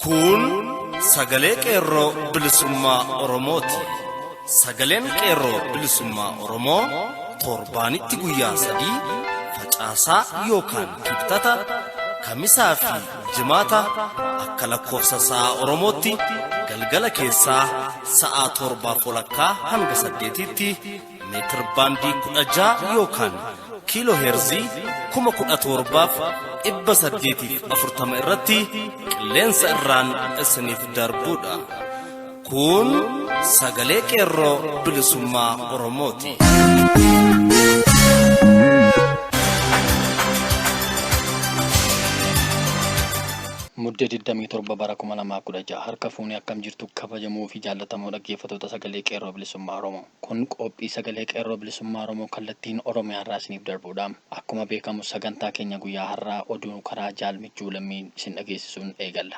Kun sagalee qeerroo bilisummaa Oromooti. Sagaleen qeerroo bilisummaa Oromoo torbaanitti guyyaa sadii facaasaa yookaan kibxata kamisaa fi Jimaata akka lakkoofsa sa'a Oromootti galgala keessaa sa'a torbaa walakkaa hanga saddeetiitti meetir baandii kudha ja'a yookaan kiiloo heerzii kuma kudha torbaaf dhibba saddeetiif afurtama irratti qilleensa irraan isiniif darbuudha. Kun sagalee qeerroo bilisummaa Oromooti. Mudde 27 bara 2016 harka fuunee akkam jirtu kabajamoo fi jaallatamoo dhaggeeffattoota sagalee qeerroo bilisummaa Oromoo. Kun qophii sagalee qeerroo bilisummaa Oromoo kallattiin Oromiyaa irraa isiniif darbudha. Akkuma beekamu sagantaa keenya guyyaa har'aa oduu karaa jaal michuu lammiin isin dhageessisuun eegalla.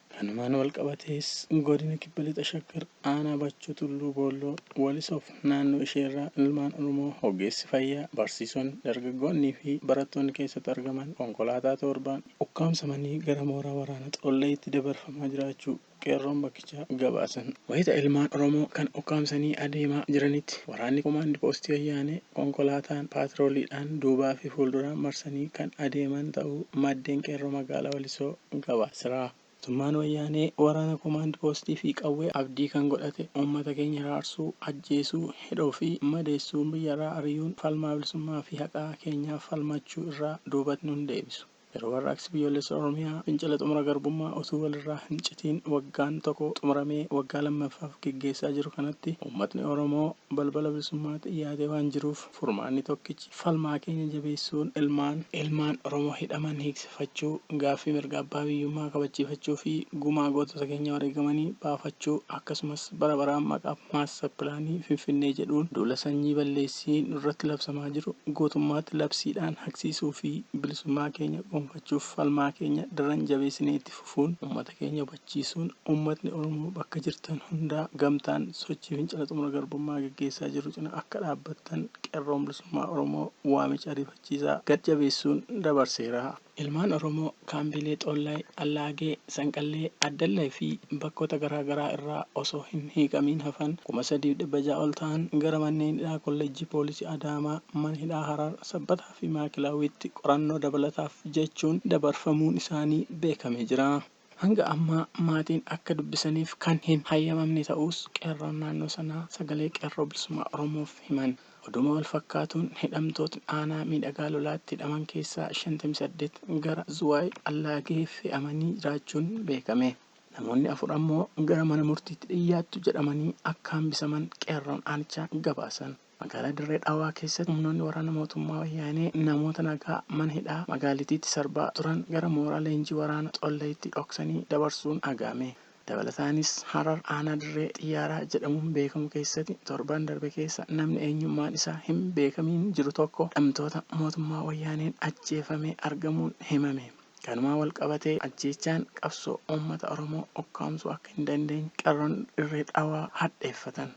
Kanumaan walqabatees Godina Kibba Lixa Shaggar Aanaa Bachoo Tulluu Boolloo, Walisoof naannoo isheerraa ilmaan Oromoo ogeessi fayyaa, barsiisonni, dargaggoonnii fi barattoonni keessatti argaman konkolaataa toorbaan ukkaamsamanii gara mooraa waraana Xollayitti dabarfamaa jiraachuu qeerroon bakkichaa gabaasan. Wayita ilmaan Oromoo kana ukkaamsanii adeemaa jiranitti waraanni komaandi poostii wayyaanee konkolaataan paatrooliidhaan duubaa fi fuulduraan marsanii kan adeeman ta'uu maddeen qeerroo magaalaa Walisoo Gabaasiraa. Mootummaan Wayyaanee waraana komaand poostii fi qawwee abdii kan godhate uummata keenya hiraarsuu, ajjeesuu, hidhuu fi madeessuun biyyarraa ari'uun falmaa bilisummaa fi haqaa keenyaaf falmachuu irraa duubatti nu hin deebisu. Yeroo Warraaqsi Biyyoolessa Oromiyaa fincila xumura garbummaa utuu walirraa hin citiin waggaan toko xumuramee waggaa lammaffaaf geggeessaa jiru kanatti uummatni Oromoo balbala bilisummaatti dhiyaatee waan jiruuf, Furmaanni tokkichi falmaa keenya jabeessuun ilmaan ilmaan Oromoo hidhaman hiiksifachuu, gaaffii mirga abbaa biyyummaa kabachiifachuu fi gumaa gootota keenya wareegamanii baafachuu akkasumas bara baraan maqaa Master Pilaanii Finfinnee jedhuun duula sanyii balleessii nurratti labsamaa jiru guutummaatti labsiidhaan haqsiisuu fi bilisummaa keenya gonfachuuf falmaa keenya daran jabeessinee itti fufuun ummata keenya kabachiisuun ummatni Oromoo bakka jirtan hundaa gamtaan sochii fincila xumura garbummaa geggeessaa jirru cina akka dhaabbattan Qerroon Bilisummaa Oromoo waamicha ariifachiisaa gad jabeessuun dabarseera. Ilmaan Oromoo kaambiilee Xoollaay, Allaagee, Sanqallee, Addallay fi bakkoota garaa garaa irraa osoo hin hiikamiin hafan 3600 ol ta'an gara manneen hidhaa Kollejjii Poolisii Adaamaa, Mana Hidhaa Harar, Sabbataa fi Maakilaawiitti qorannoo dabalataaf jechuun dabarfamuun isaanii beekamee jira. Hanga ammaa maatiin akka dubbisaniif kan hin hayyamamne ta'uus qeerroon naannoo sanaa Sagalee Qeerroo Bilisummaa Oromoof himan. Oduuma walfakkaatuun hidhamtootni aanaa Miidhagaa Lolaatti hidhaman keessaa 58 gara Zuwaay Allaagee fe'amanii jiraachuun beekame. Namoonni afur ammoo gara mana murtiitti dhiyyaattu jedhamanii akka hambisaman qeerroon aanichaa gabaasan. Magaalaa Dirree Dhawaa keessatti humnoonni waraana mootummaa Wayyaanee namoota nagaa mana hidhaa magaalitiitti sarbaa turan gara mooraa leenjii waraana Xollayitti dhoksanii dabarsuun dhaga'ame. Dabalataanis Harar aanaa Dirree Xiyyaaraa jedhamuun beekamu keessatti torban darbe keessa namni eenyummaan isaa hin beekamiin jiru tokko hidhamtoota mootummaa Wayyaaneen ajjeefamee argamuun himame. Kanumaan wal qabatee ajjeechaan qabsoo uummata Oromoo ukkaamsuu akka hin dandeenye Qerroon Dirree Dhawaa hadheeffatan.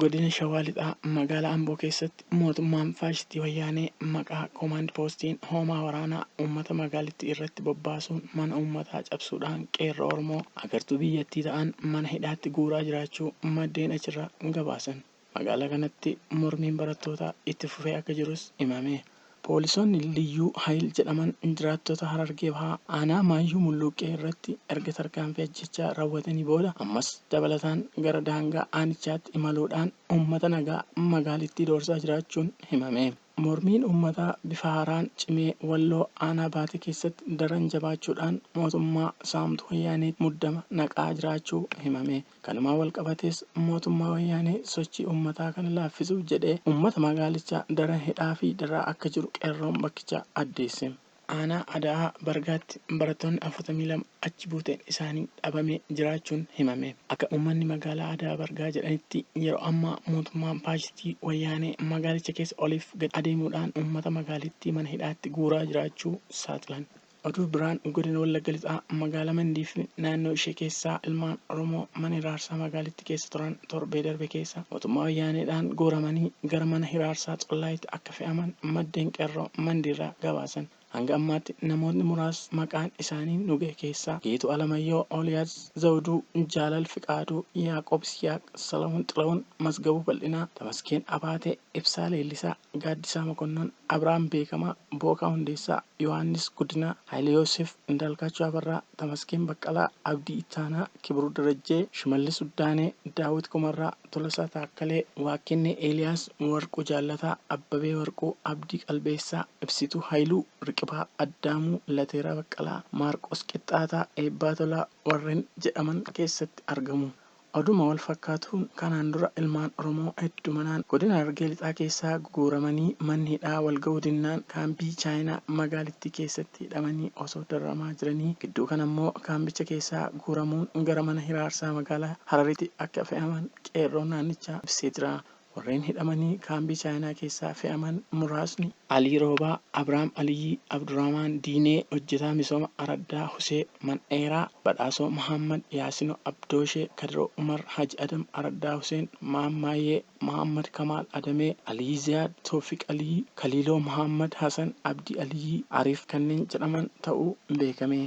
Godina Shawaa Lixaa magaalaa Amboo keessatti mootummaan faashistii Wayyaanee maqaa Koomaand Poostiin hoomaa waraanaa uummata magaalittii irratti bobbaasuun mana uummataa cabsuudhaan qeerroo Oromoo agartuu biyyattii ta'an mana hidhaatti guuraa jiraachuu maddeen achirraa gabaasan. Magaalaa kanatti mormiin barattootaa itti fufee akka jirus himame. Poolisoonni Liyyuu Hayil jedhaman jiraattota Harargee Bahaa aanaa Maayyuu Mulluuqqee irratti erga tarkaanfii ajjeechaa rawwatanii booda ammas dabalataan gara daangaa aanichaatti imaluu dhaan uummata nagaa magaalittii doorsaa jiraachuun himame. Mormiin uummataa bifa haaraan cimee Walloo aanaa Baatee keessatti daran jabaachuu dhaan mootummaa saamtuu Wayyaaneetti muddama naqaa jiraachuu himame. Kanumaan walqabatees mootummaa wayyaanee sochii ummataa kana laaffisuuf jedhee ummata magaalichaa daran hidhaa fi dararaa akka jiru qeerroon bakkichaa addeesse. Aanaa Ada'aa Bargaatti barattoonni 42 achi buuteen isaanii dhabamee jiraachuun himame. Akka ummanni magaalaa Ada'aa Bargaa jedhanitti yeroo ammaa mootummaan faashistii wayyaanee magaalicha keessa oliif gad adeemuudhaan ummata magaalittii mana hidhaatti guuraa jiraachuu saaxilan. Oduu biraan Godina Wallagga Lixaa Magaala Mandii fi naannoo ishee keessaa ilmaan Oromoo mana hiraarsaa magaalitti keessa turan torbee darbe keessa mootummaa wayyaaneedhaan guuramanii gara mana hiraarsaa Xollaayitti akka fe'aman maddeen Qerroo Mandiirraa gabaasan. Hanga ammaatti namootni muraas maqaan isaanii nu gahe keessaa Geetuu Alamayyoo, Ooliyaas Zawuduu, Jaalal Fiqaaduu, Yaaqoob Isiyaaq, Salahun Xilahun, Masgabuu Bal'inaa, Tamaskeen Abaatee, Ibsaa Leellisaa, Gaaddisaa Mokonnon, Abrahaam Beekamaa, Bookaa Hundeessaa, Yohaannis Guddinaa, Haayile Yooseef, Indaalkaachoo Abarraa, Tamaskeen Baqqalaa, Abdii Ittaanaa, Kibiruu Darajjee, Shimallis Uddaanee, Daawwit Kumarraa, Tolasaa Taakkalee, Waakkennee Eeliyaas, Warquu Jaallataa, Abbabee Warquu, Abdii Qalbeessaa, Ibsituu Hayiluu, Riqibaa Addaamuu, Lateeraa Baqqalaa, Maarqoos Qixxaataa, Eebbaa Tolaa warren jedhaman keessatti argamu. Oduma wal fakkaatuun kanaan dura ilmaan Oromoo heddumanaan godina Harargee Lixaa keessaa guguuramanii manni hidhaa wal ga'uu dinnaan kaambii Chaayinaa magaalittii keessatti hidhamanii osoo dararamaa jiranii gidduu kana immoo kaambicha keessaa guuramuun gara mana hiraarsaa magaalaa Harariti akka fe'aman qeerroon naannichaa ibsee jira. Warreen hidhamanii kaambii Chaayinaa keessaa fe'aman muraasni. Alii Roobaa, Abraam Aliyyii, Abdurahmaan Diinee, Hojjetaa Misooma Araddaa Husee Mandheeraa, Badhaasoo Mahaammad, Yaasino Abdooshee, Kadiroo Umar, Haji Adam Araddaa Huseen, Maammaayee, Mahaammad Kamaal Adamee, Aliyyi Ziyaad, Tooffiq Aliyyi, Kaliiloo Mahaammad Hasan, Abdii Aliyyii, Ariif kanneen jedhaman ta'uu beekame.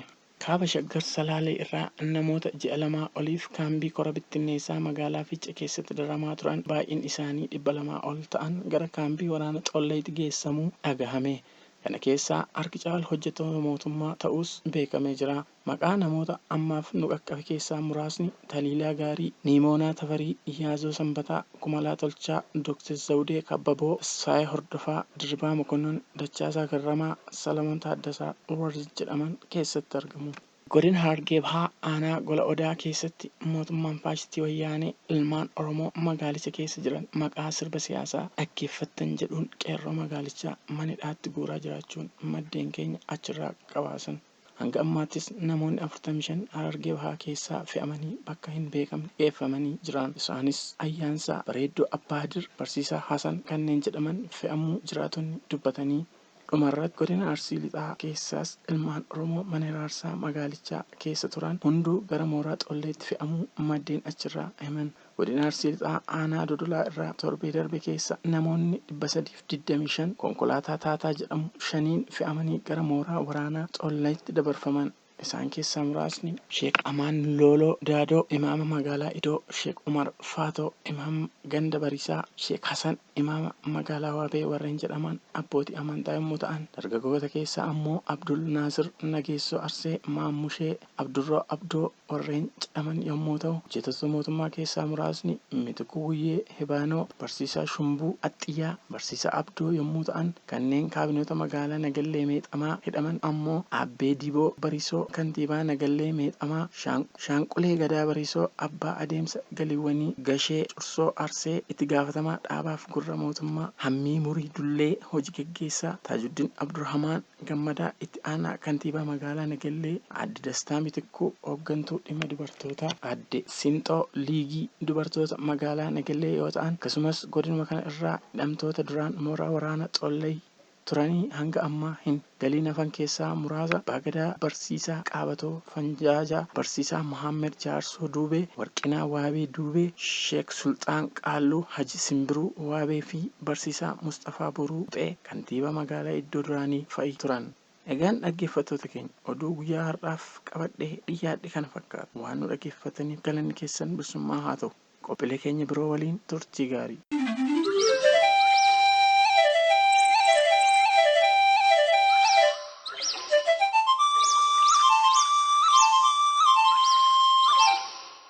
Kaaba Shaggar Salaalee irraa namoota ji'a lamaa oliif kaambii kora bittinneessaa magaalaa Fiichee keessatti dararamaa turan baay'inni isaanii 200 ol ta'an gara kaambii waraana Colleetti geessamuu dhagahame. Kana keessaa harki caalu hojjettoota mootummaa ta'uus beekamee jira. Maqaa namoota ammaaf nu qaqqabe keessaa muraasni Taliilaa Gaarii, Niimoonaa Tafarii, Yaazoo Sanbataa, Kumalaa Tolchaa, Dooktar Zawudee Kabbaboo, Tasfaayee Hordofaa, Dirribaa Mokonnon, Dachaasaa Garramaa, Salamoon Taaddasaa warri jedhaman keessatti argamu. Godina Harargee Bahaa aanaa Gola Odaa keessatti mootummaan faashistii Wayyaanee ilmaan Oromoo magaalicha keessa jiran maqaa sirba siyaasaa dhaggeeffattan jedhuun qeerroo magaalichaa mana hidhaatti guuraa jiraachuun maddeen keenya achirraa gabaasan. Hanga ammaattis namoonni 45 Harargee Bahaa keessaa fe'amanii bakka hin beekamne geeffamanii jiraan. Isaanis Ayyaansaa, Bareeddoo Abbaa Hadir, Barsiisaa Hasan kanneen jedhaman fe'amuu jiraatonni dubbatanii. Dhumarratti Godina Arsii Lixaa keessaas ilmaan Oromoo mana hiraarsaa magaalichaa keessa turan hunduu gara mooraa Xolleetti fe'amuu maddeen achirraa himan. Godina Arsii Lixaa aanaa Dodolaa irraa torbee darbe keessa namoonni 325 konkolaataa Taataa jedhamu shaniin fe'amanii gara mooraa waraanaa Xollayitti dabarfaman. Isaan keessaa muraasni. Sheek Amaan Looloo Daadoo, Imaama Magaalaa Idoo, Sheek Umar Faatoo, Imaama Ganda Bariisaa, Sheek Hasan, Imaama Magaalaa Waabee warreen jedhaman abbootii amantaa yommuu ta'an, dargaggoota keessaa ammoo Abdul Naasir Nageessoo Arsee, Maammushee, Abdurroo Abdoo, warreen jedhaman yommuu ta'u, hojjetoota mootummaa keessaa muraasni Mitikkuu Guyyee, Hebaanoo, Barsiisaa Shumbuu, Axxiyyaa, Barsiisaa Abdoo yommuu ta'an, kanneen kaabinoota magaalaa Nagallee Meexamaa hidhaman ammoo Abbee Diboo Barisoo, Kantiibaa Nagallee Meexamaa, Shaanqulee Gadaa Barisoo, Abbaa Adeemsa Galiiwwanii Gashee Cursoo Arsee, Itti Gaafatamaa Dhaabaaf Gurra Mootummaa Hammii Murii Dullee, Hoji Gaggeessaa Taajuddin Abdurhamaan, Gammadaa, Itti Aanaa Kantiibaa Magaalaa Nagellee, Aadde Dastaa Mitikkuu, Hooggantuu Dhimma Dubartootaa Aadde Sinxoo Liigii Dubartoota Magaalaa Nagellee yoo ta'an, akkasumas godinuma kana irraa hidhamtoota duraan mooraa waraana Xollay turanii hanga ammaa hin galiin hafan keessaa muraasa Abbaa Gadaa Barsiisaa Qaabatoo Fanjaajaa, Barsiisaa Mohaammed Jaarsoo Duubee, Warqinaa Waabee Duubee, Sheek Sulxaan Qaalluu, Haji Simbiruu Waabee fi Barsiisaa Musxafaa Boruu Quxee. kantiibaa magaalaa iddoo duraanii fa'i turan. Egaan dhaggeeffattoota keenya oduu guyyaa har'aaf qabadhee dhiyyaadhe kana fakkaata. Waan nu dhaggeeffattaniif galanni keessan bilisummaa haa ta'u. Qophilee keenya biroo waliin turtii gaarii.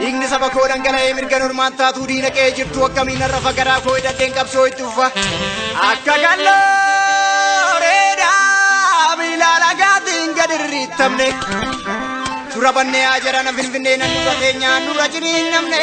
Dhiigni saba koo dhangala'ee mirga normaan taatuu diina qe'ee jirtu akkamiin har'a fagaraa koo hidhadheen qabsoo itti ufa. Akka galloo reedaa miila lagaatiin gad irriittamne. Tura bannee haa jedhana finfinnee nan dura teenyaan dura jiniin namne.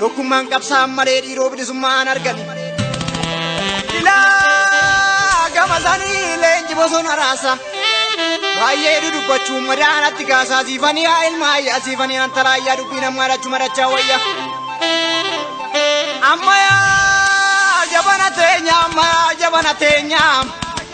Tokkummaan qabsaan malee dhiiroo bilisummaa an argani. Ilaa gama sanii leenji bosona raasa. Baay'ee dudubbachuun madaanatti gaasaa siifanii haa ilmaa ayyaa siifanii antalaa ayyaa dubbii namaa dhachuu madachaa wayya. Ammayaa jabana teenyaa ammayaa jabana teenyaa.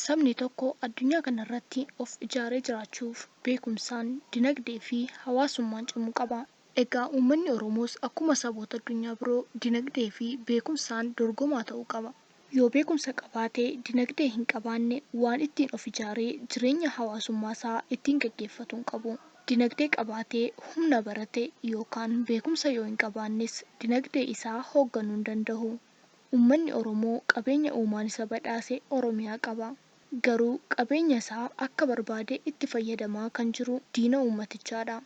Sabni tokko addunyaa kana irratti of ijaaree jiraachuuf beekumsaan, dinagdee fi hawaasummaan cimuu qaba. Egaa uummanni Oromoos akkuma saboota addunyaa biroo dinagdee fi beekumsaan dorgomaa ta'uu qaba. Yoo beekumsa qabaate, dinagdee hin qabaanne waan ittiin of ijaaree jireenya hawaasummaa isaa ittiin gaggeeffatu hin qabu. Dinagdee qabaatee humna barate yookaan beekumsa yoo hin qabaannes dinagdee isaa hoogganuu hin dandahu. Ummanni Oromoo qabeenya uumaan isa badhaase Oromiyaa qaba. Garuu qabeenya isaa akka barbaade itti fayyadamaa kan jiru diina uummatichaa dha.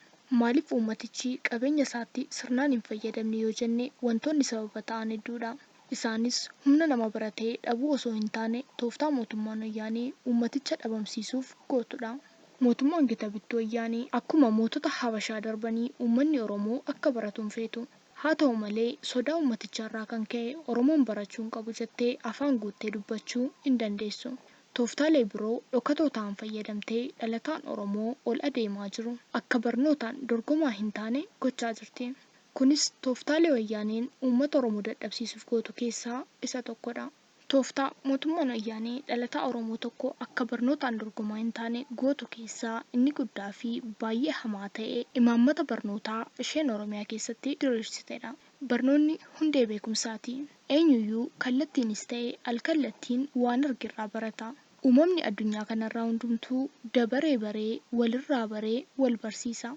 Maaliif uummatichi qabeenya isaatti sirnaan hin fayyadamne yoo jenne wantoonni sababa ta'an hedduu dha. Isaanis humna nama barate dhabuu osoo hin taane tooftaa mootummaan Wayyaanee uummaticha dhabamsiisuuf gootu dha. Mootummaan gita bittuu Wayyaanee akkuma mootota Habashaa darbanii uummanni Oromoo akka baratu hin feetu. Haa ta'u malee, sodaa ummatichaarraa kan ka'e Oromoon barachuu hin qabu jettee afaan guuttee dubbachuu hin dandeessu. Tooftaalee biroo dhokatoo ta'an fayyadamtee dhalataan Oromoo ol adeemaa jiru akka barnootaan dorgomaa hin taane gochaa jirti. Kunis tooftaalee wayyaaneen uummata Oromoo dadhabsiisuuf gootu keessaa isa tokkodha. Tooftaa mootummaan Wayyaanee dhalataa Oromoo tokko akka barnootaan dorgomaa hin taane gootu keessaa inni guddaa fi baay'ee hamaa ta'e imaammata barnootaa isheen Oromiyaa keessatti diriirsite dha. Barnoonni hundee beekumsaa ti. Eenyuyyuu kallattiinis ta'e al-kallattiin waan arge irraa barata. Uumamni addunyaa kanarraa hundumtuu dabaree baree walirraa baree wal barsiisa.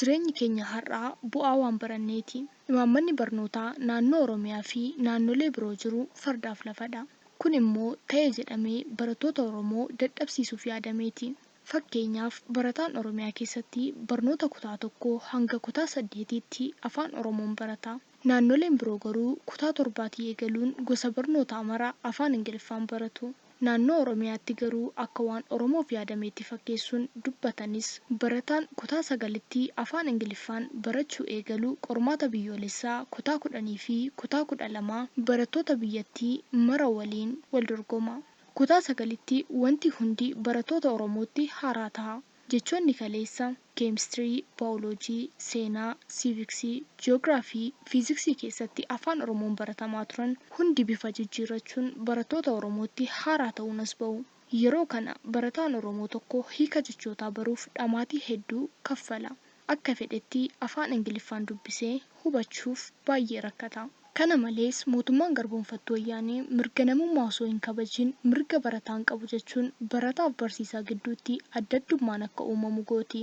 Jireenyi keenya har'aa bu'aa waan baranneeti. Imaammanni barnootaa naannoo Oromiyaa fi naannolee biroo jiru fardaaf lafadha. Kun immoo ta'e jedhamee barattoota Oromoo dadhabsiisuuf yaadameeti. Fakkeenyaaf barataan Oromiyaa keessatti barnoota kutaa tokkoo hanga kutaa saddeetiitti Afaan Oromoon barata. Naannoleen biroo garuu kutaa torbaatii eegaluun gosa barnootaa mara afaan Ingiliffaan baratu. Naannoo Oromiyaatti garuu akka waan Oromoof yaadameetti fakkeessuun dubbatanis barataan kutaa sagalitti afaan Ingiliffaan barachuu eegalu qormaata biyyoolessaa kutaa kudhaniifi kutaa kudha lamaa barattoota biyyattii mara waliin waldorgoma. Kutaa sagalitti wanti hundi barattoota Oromootti haaraa taha. Jechoonni kaleessa, keemistirii, baayoloojii, seenaa, siiviksii, ji'oogiraafii, fiiziksii keessatti Afaan Oromoon baratamaa turan hundi bifa jijjiirrachuun barattoota Oromootti haaraa ta'uun as ba'u. Yeroo kana barataan Oromoo tokko hiika jechootaa baruuf dhamaatii hedduu kaffala. akka fedhetti afaan Ingiliffaan dubbisee hubachuuf baay'ee rakkata. Kana malees, mootummaan garboomfattuu Wayyaanee mirga namummaa osoo hin kabajin mirga barataan qabu jechuun barataaf barsiisaa gidduutti addaddummaan akka uumamu gooti.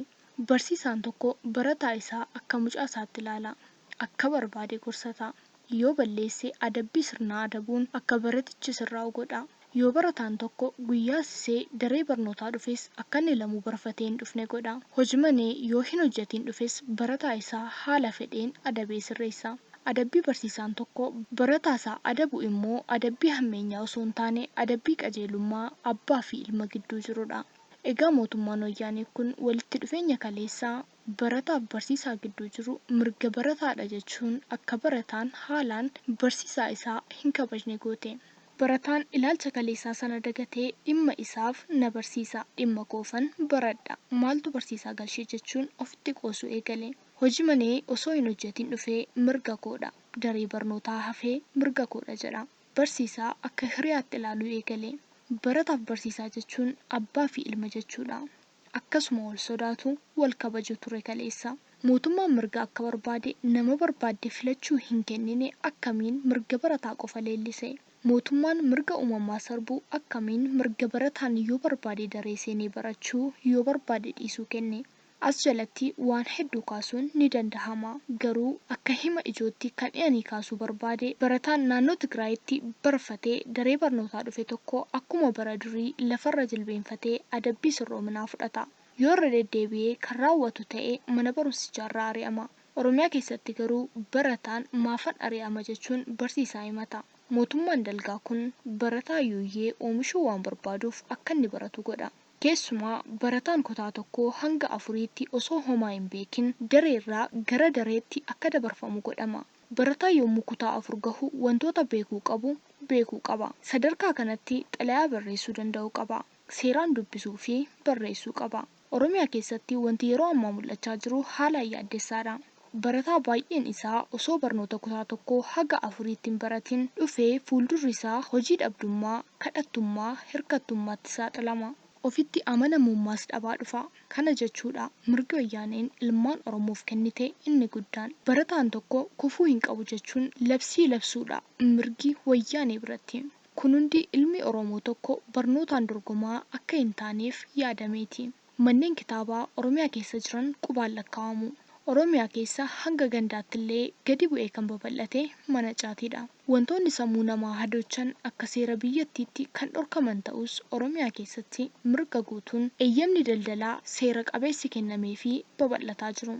Barsiisaan tokko barataa isaa akka mucaa isaatti ilaala. akka barbaade gorsataa. Yoo balleesse adabbii sirnaa adabuun akka baratichi sirraa'u godhaa. Yoo barataan tokko guyyaa sisee daree barnootaa dhufes akka inni lamuu barfatee hin dhufne godhaa. Hojmanee yoo hin hojjatiin dhufes barataa isaa haala fedheen adabee sirreessaa. Adabbii barsiisaan tokko barataa isaa adabu immoo adabbii hammeenyaa osoo hin taane adabbii qajeelummaa abbaa fi ilma gidduu jirudha. Egaa mootummaan wayyaanee kun walitti dhufeenya kaleessaa, barataaf barsiisaa gidduu jiru mirga barataadha jechuun akka barataan haalaan barsiisaa isaa hin kabajne goote. Barataan ilaalcha kaleessaa sana dagatee dhimma isaaf na barsiisa, dhimma koofan baradha, maaltu barsiisaa galche jechuun ofitti qoosuu eegale. Hojii manee osoo hin hojjetiin dhufee mirga koodha, daree barnootaa hafee mirga koodha jedha. Barsiisaa akka hiriyaatti ilaaluu eegale. Barataaf barsiisaa jechuun abbaa fi ilma jechuudha. akkasuma wal sodaatu, wal kabaju ture kaleessa. Mootummaan mirga akka barbaade nama barbaadde filachuu hin kennine akkamiin mirga barataa qofa leellise? Mootummaan mirga uumamaa sarbu akkamiin mirga barataan yoo barbaade daree seenee barachuu, yoo barbaade dhiisuu kenne? As jalatti waan hedduu kaasuun ni dandahama. Garuu akka hima ijootti kan ani kaasuu barbaade barataan naannoo Tigraayitti barfatee daree barnootaa dhufe tokko akkuma bara durii lafarra jilbeenfatee, raawwate adabbii sirroominaa fudhata. Yoo irra deddeebi'ee kan raawwatu ta'e mana barumsichaarraa ari'ama. Oromiyaa keessatti garuu barataan maafan ari'ama jechuun barsiisaa himata. Mootummaan dalgaa kun barataa yuuyyee oomishuu waan barbaaduuf akkanni baratu godha. Keessumaa barataan kutaa tokkoo hanga afuriitti osoo homaa hin beekin dareerraa gara dareetti akka dabarfamu godhama. Barataan yommuu kutaa afur gahu wantoota beekuu qabu beekuu qaba. Sadarkaa kanatti xalayaa barreessuu danda'uu qaba. Seeraan dubbisuu fi barreessuu qaba. Oromiyaa keessatti wanti yeroo ammaa mul'achaa jiru haalaan yaaddessaadha. Barataa baay'een isaa osoo barnoota kutaa tokkoo haga afurii itti hin baratin dhufee fuuldurri isaa hojii dhabdummaa, kadhattummaa, hirkattummaatti saaxilama. Ofitti amanamummaas dhabaa dhufa. Kana jechuudha mirgi wayyaaneen ilmaan Oromoof kennite inni guddaan barataan tokko kufuu hin qabu jechuun labsii labsuudha mirgi wayyaanee biratti. Kun hundi ilmi Oromoo tokko barnootaan dorgomaa akka hin taaneef yaadameeti. Manneen kitaabaa Oromiyaa keessa jiran qubaan lakkaawamu. Oromiyaa keessa hanga gandaattillee gadi bu'ee kan babal'ate mana caatiidha. Wantoonni sammuu namaa hadochan akka seera biyyattiitti kan dhorkaman ta'us Oromiyaa keessatti mirga guutuun eeyyamni daldalaa seera qabeessi kennameefii babal'ataa jiru.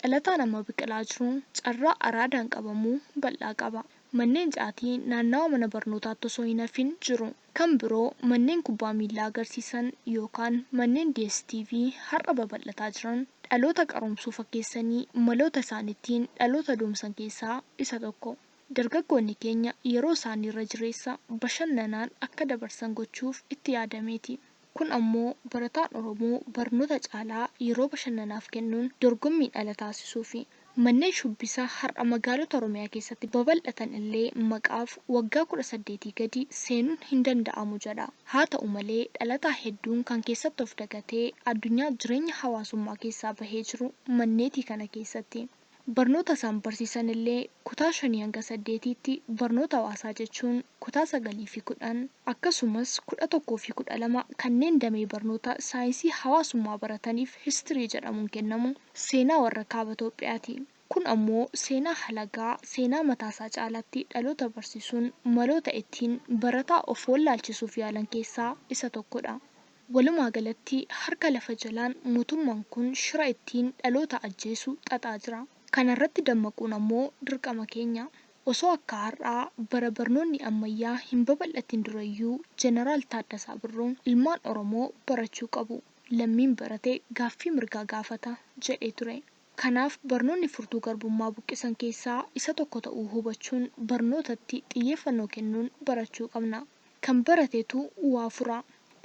Dhalataan amma biqilaa jiru carraa araadaan qabamuu bal'aa qaba. Manneen caatii naannawa mana barnootaatti osoo hin hafin jiru. Kan biroo manneen kubbaa miillaa agarsiisan yookaan manneen DSTV har'a babal'ataa jiran dhaloota qaroomsuu fakkeessanii maloota isaan ittiin dhaloota doomsan keessaa isa tokko. Dargaggoonni keenya yeroo isaanii irra jireessa bashannanaan akka dabarsan gochuuf itti yaadameeti. Kun ammoo barataan Oromoo barnoota caalaa yeroo bashannanaaf kennuun dorgommiin ala taasisuufi. Manneen shubbisa har'a magaalota Oromiyaa keessatti babal'atan illee maqaaf waggaa 18 gadi seenuun hindanda'amu jedha. Haata'u malee dhalataa hedduun kan keessatti of dagatee addunyaa jireenya hawaasummaa keessaa bahee jiru manneetii kana keessatti. Barnoota isaan barsiisan illee kutaa 5-8tti barnoota hawaasaa jechuun kutaa 9 fi 10 akkasumas 11 fi 12 kanneen damee barnoota saayinsii hawaasummaa barataniif history jedhamuun kennamu seenaa warra kaaba Itoophiyaati. Kun ammoo seenaa halagaa seenaa mataa isaa caalaatti dhaloota barsiisuun maloota ittiin barataa of wallaalchisuuf yaalan keessaa isa tokkodha. Walumaa galatti harka lafa jalaan mootummaan kun shira ittiin dhaloota ajjeesu xaxaa jira. Kana irratti dammaquun ammoo dirqama keenya. Osoo akka har'aa bara barnoonni ammayyaa hin babal'atin durayyuu Jeneraal Taaddasaa Birruun ilmaan Oromoo barachuu qabu, lammiin barate gaaffii mirgaa gaafata jedhee ture. Kanaaf barnoonni furtuu garbummaa buqqisan keessaa isa tokko ta'uu hubachuun barnootatti xiyyeeffannoo kennuun barachuu qabna. Kan baratetu waa fura.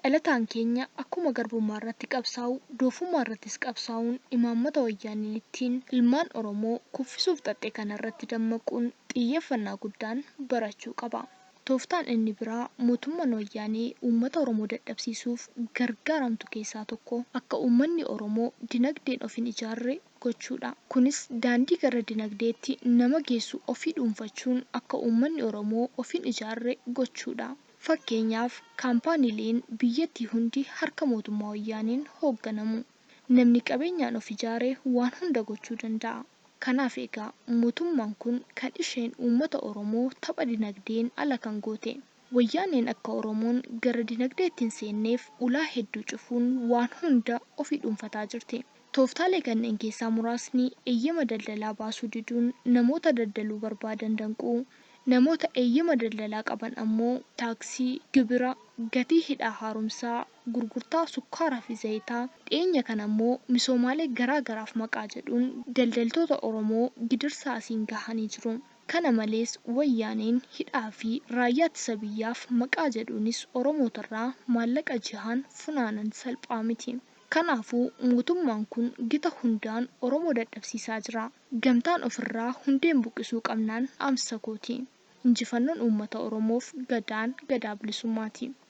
Dhalataan keenya akkuma garbummaarratti qabsaa'u doofummaarrattis qabsaa'uun imaammata wayyaaneen ittiin ilmaan Oromoo kuffisuuf xaxxe kanarratti dammaquun xiyyeeffannaa guddaan barachuu qaba. Tooftaan inni biraa mootumman wayyaanee uummata Oromoo dadhabsiisuuf gargaaramtu keessaa tokko akka uummanni Oromoo dinagdeen of hin ijaarre gochuudha. Kunis daandii gara dinagdeetti nama geessu ofii dhuunfachuun akka uummanni Oromoo of hin ijaarre gochuudha. Fakkeenyaaf, kaampaaniileen biyyattii hundi harka mootummaa Wayyaaneen hoogganamu. Namni qabeenyaan of ijaare waan hunda gochuu danda'a. Kanaaf egaa mootummaan kun kan isheen uummata Oromoo tapha dinagdeen ala kan goote. Wayyaaneen akka Oromoon gara dinagdeetti hin seenneef ulaa hedduu cufuun waan hunda ofii dhuunfataa jirti. Tooftaalee kanneen keessaa muraasni eeyyama daldalaa baasuu diduun namoota daldaluu barbaadan danquu, namoota eeyyama daldalaa qaban ammoo taaksii, gibira, gatii hidhaa haaromsaa, gurgurtaa sukkaaraa fi zayitaa, dhiyeenya kana ammoo misoomaalee garaa garaaf maqaa jedhuun daldaltoota Oromoo gidirsaa asiin gahanii jiru. Kana malees Wayyaaneen hidhaa fi Raayyaa Ittisa Biyyaaf maqaa jedhuunis Oromootarraa maallaqa jihaan funaanan salphaa miti. Kanaafuu mootummaan kun gita hundaan Oromoo dadhabsiisaa jira. Gamtaan ofirraa hundeen buqqisuu qabnaan dhaamsa kooti. Injifannoon uummata Oromoof Gadaan Gadaa Bilisummaati.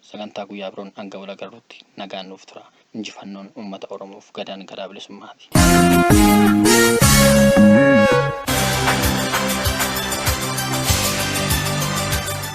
sagantaa guyyaa biroon hanga wal agarruutti nagaan nuuf turaa. Injifannoon uummata Oromoof gadaan gadaa bilisummaati.